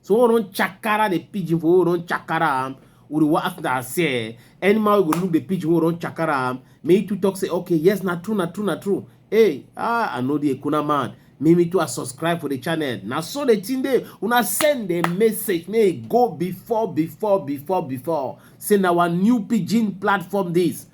so we don chakara the pigeon for we don chakara am we dey ask na say animal go look the pigeon we don chakara am me too talk say okay yes na true na true na true hey ah i know the ekuna man me me too i subscribe for the channel na so the thing dey una send the message may e go before before before before say na our new pigeon platform this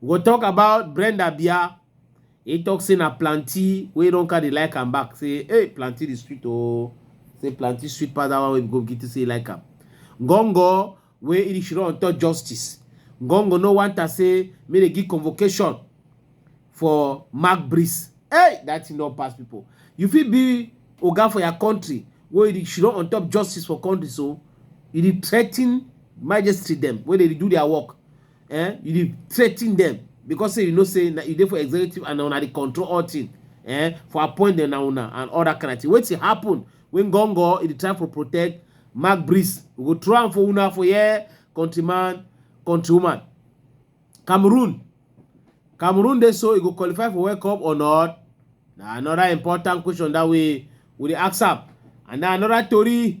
We go talk about Brenda Bia. He talk say na planty wey don carry like am back. Say, hey, planty the sweet oh. Say planty sweet pass that one wey go get to say like am. Gongo wey Irish run talk justice. Gongo no want to say make they give convocation for Mark Breeze. Hey, that thing don't pass people. You fit be oga for your country wey Irish run on top justice for country so. You dey threaten magistrate them wey dey do their work. eh you dey threaten them because say you know say na you dey for executive and na una dey control all thing eh for appoint them na una and all that kind of thing wetin happen when gongo e dey try for protect mark breeze we go throw am for una for here countryman countrywoman cameroon cameroon dey so e go qualify for world cup or not na another important question that we we dey ask am and na another tori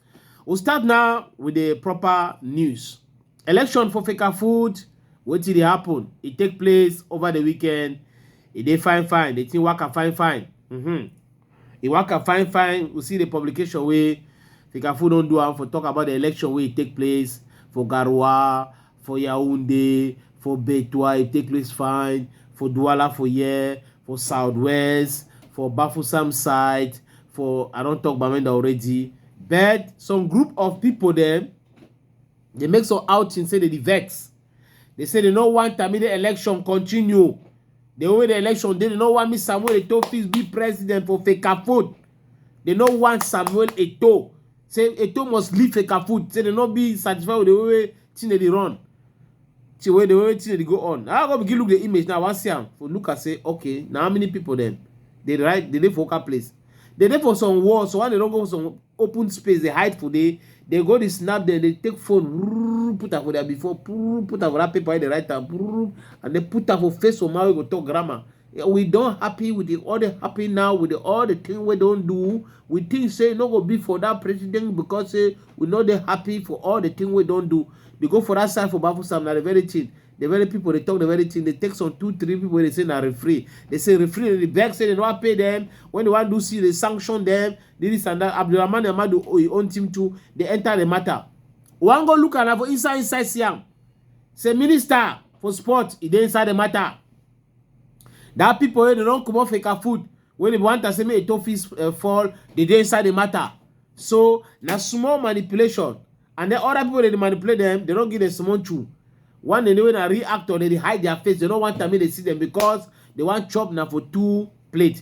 We start now with the proper news. Election for Fika Food, wetin dey happen? E take place over the weekend. E dey fine fine, the thing waka fine fine. Mm-hmm. E waka fine fine. We see the publication wey Fika Food don do am for talk about the election wey e take place for Garoua, for Yaoundé, for Beitwa, it take place fine, for Douala for here, for Southwest, for Bafusam side, for I don't talk Bamenda already. But some group of people them they make some outing say they the vex. They say they no want Tamide election continue. They win the election, they no want me Samuel Eto'o be president for Fecafoot. They no want Samuel Eto'o say eto must leave fake food say dem no be satisfied with the way wey thing dey run the way the way thing dey go on i go begin look the image now i wan see am for look am say okay na how many people dem dey ride dey dey for local place dey dey for some wall so why dem no go some open space dey hide for there dey go dey snap dem dey take phone wurr, put am for their before wurr, put am for that paper wey dey write am wurr, and then put am for face for man wey go talk grammar we don happy with the all the happy now with the all the thing we don do we think say e no go be for that president because say we no dey happy for all the thing we don do dey go for that side for bafusam na the very thing the very people dey talk the very thing dey take some two three people dey say na referee dey say referee dey vex say they no pay them when they wan do see dey sanction them this and that abdulrahman amadu oyi own team too dey enter the matter wan go look am na for inside inside siam say minister for sport e dey inside the matter That people wey dey don comot fake food wey dey want am say make Eto fit uh, fall, they dey inside the matter. So na small manipulation and then other people dey dey manipulate them, they don't give them small chew. One day wey na real actor, they dey hide their face, they don't want am make they see them because they want chop na for two plate.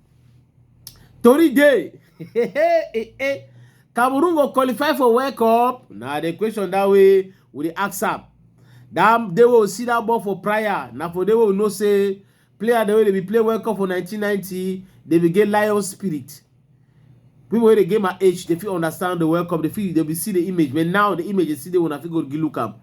Tori day. Cameroon go qualify for World Cup. Now the question that way we dey ask am. That they will see that ball for prior. Now for they will know say player the way they be play World Cup for 1990, they be get lion spirit. People wey dey get my age, they fit understand the World Cup. They fit they be see the image, but now the image they see they wanna fit go look am.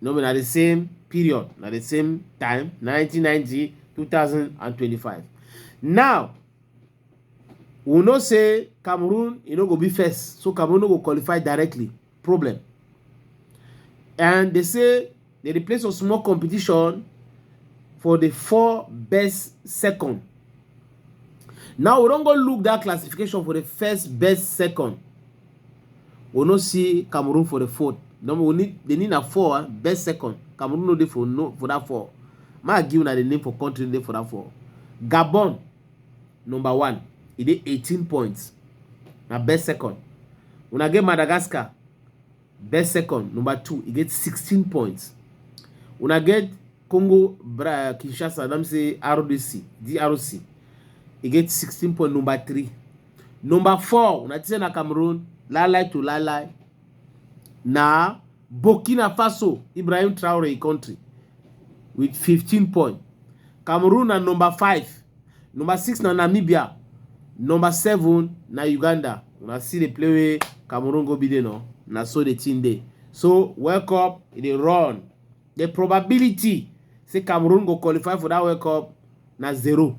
no be na the same period na the same time 1990 2025 now we know say cameroon e no go be first so cameroon no go qualify directly problem and they say they dey play some small competition for the four best second now we don go look that classification for the first best second we no see Cameroon for the fourth. No, we need they need a four, eh? best second. Cameroon no dey for no for that four. Ma give na the name for country dey for that four. Gabon number one, e dey 18 points. Na best second. Una get Madagascar, best second, number two, e get 16 points. Una get Congo Bra Kinshasa, let me say RDC, DRC, e get 16 point number three. Number four, una say na Cameroon, lie lie to lie lie. Na Burkina Faso, Ibrahim Traore country with 15 points. Cameroon na number five. Number six na Namibia. Number seven na Uganda. Una see the play wey Cameroon go be there no. Na so the team dey. So World Cup e dey run. The probability say Cameroon go qualify for that World Cup na zero.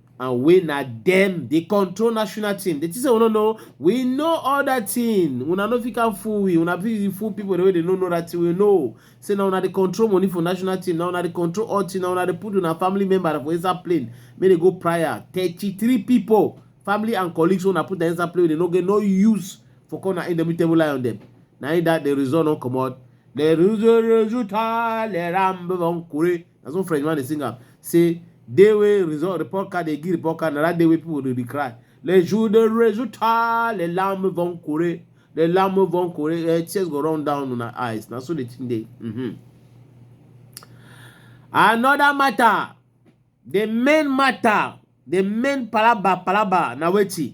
and wey na dem dey control national team dey think say we no know we know all that thing una no fit can fool we una be fool people wey dey no know that thing we know say na una dey control money for national team na una dey control all thing na una dey put una family member for inside plane make dey go prior thirty-three people family and colleagues una put na inside plane wey dey no get no use for come na indomitable lion dem na in that the result no comot the result resulta le rambo von kure na so french man dey sing am say day wey result report card dey give report card na that day wey people dey dey cry le jour de résultat les larmes vont courir les larmes vont courir eh, tears go run down una eyes na so the thing dey. Mm -hmm. another matter the main matter the main palaba palaba na wetin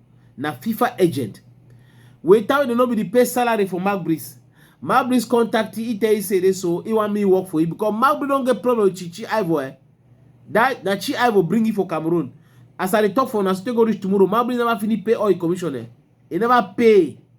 na fifa agent wey tell you no be the pay salary for magris magris contact he tell you say dey so he want me work for you because magris don get problem with chichi ivo eh that na chi ivo bring you for cameroon as i dey talk for una still go reach tomorrow magris never finish pay all him commission eh he never pay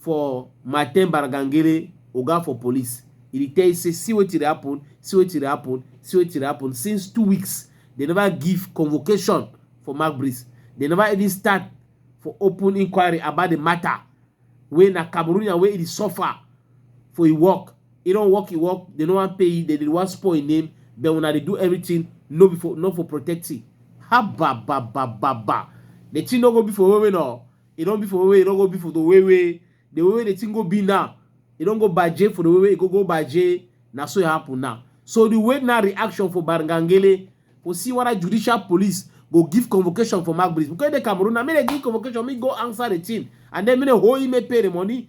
for Martin Baragangere oga for police. E dey tell you say see wetin dey happen, see wetin dey happen, see wetin dey happen since two weeks dem never give convocation for Magbrits. Dem never even start for open inquiry about the matter wey na Cameroonian wey e dey suffer for im work. E don work im work, dem no wan pay im, dem dey wan spoil im name but una dey do everything no be for not for protecting. Habababababa! The thing no go be for women oo. e don be for way wey e don go be for the way wey the way wey the thing go be now e don go baje for the way wey e go go baje na so e happen now so the way now reaction for barngangele for see whether judicial police go give convocation for magbris because e dey cameroon na make dem give convocation make go answer the thing and then make dem hold him make pay the money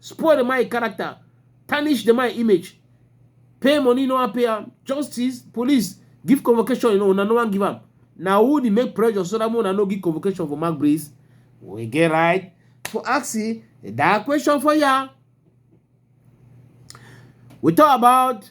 spoil the man character tarnish the man image pay money no wan pay am justice police give convocation you know una no wan give am na who dey make pressure so that una no give convocation for mark breeze we get right for asking that question for ya we talk about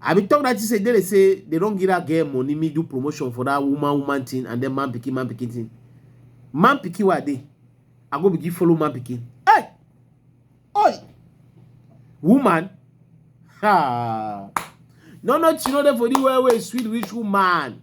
I be talk that thing say they say they don't give that girl money, me do promotion for that woman woman thing and then man picking man picking thing. Man picking what they? I go begin follow man picking. Hey, oi, woman. Ha. No, no, you know that for the way sweet rich woman.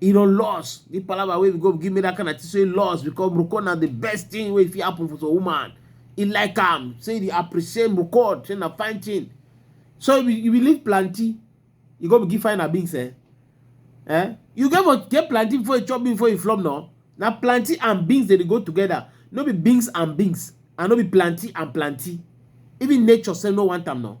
e don loss the palava wey go give me that kind of thing say loss because record na the best thing wey fit happen for some woman e like am say e appreciate record say na fine thing so if you believe planty you go begin find abings eh eh you get for get planty before you chop beans before you flop no na planty and beans dey go together no be beans and beans and no be planty and planty even nature say no want am no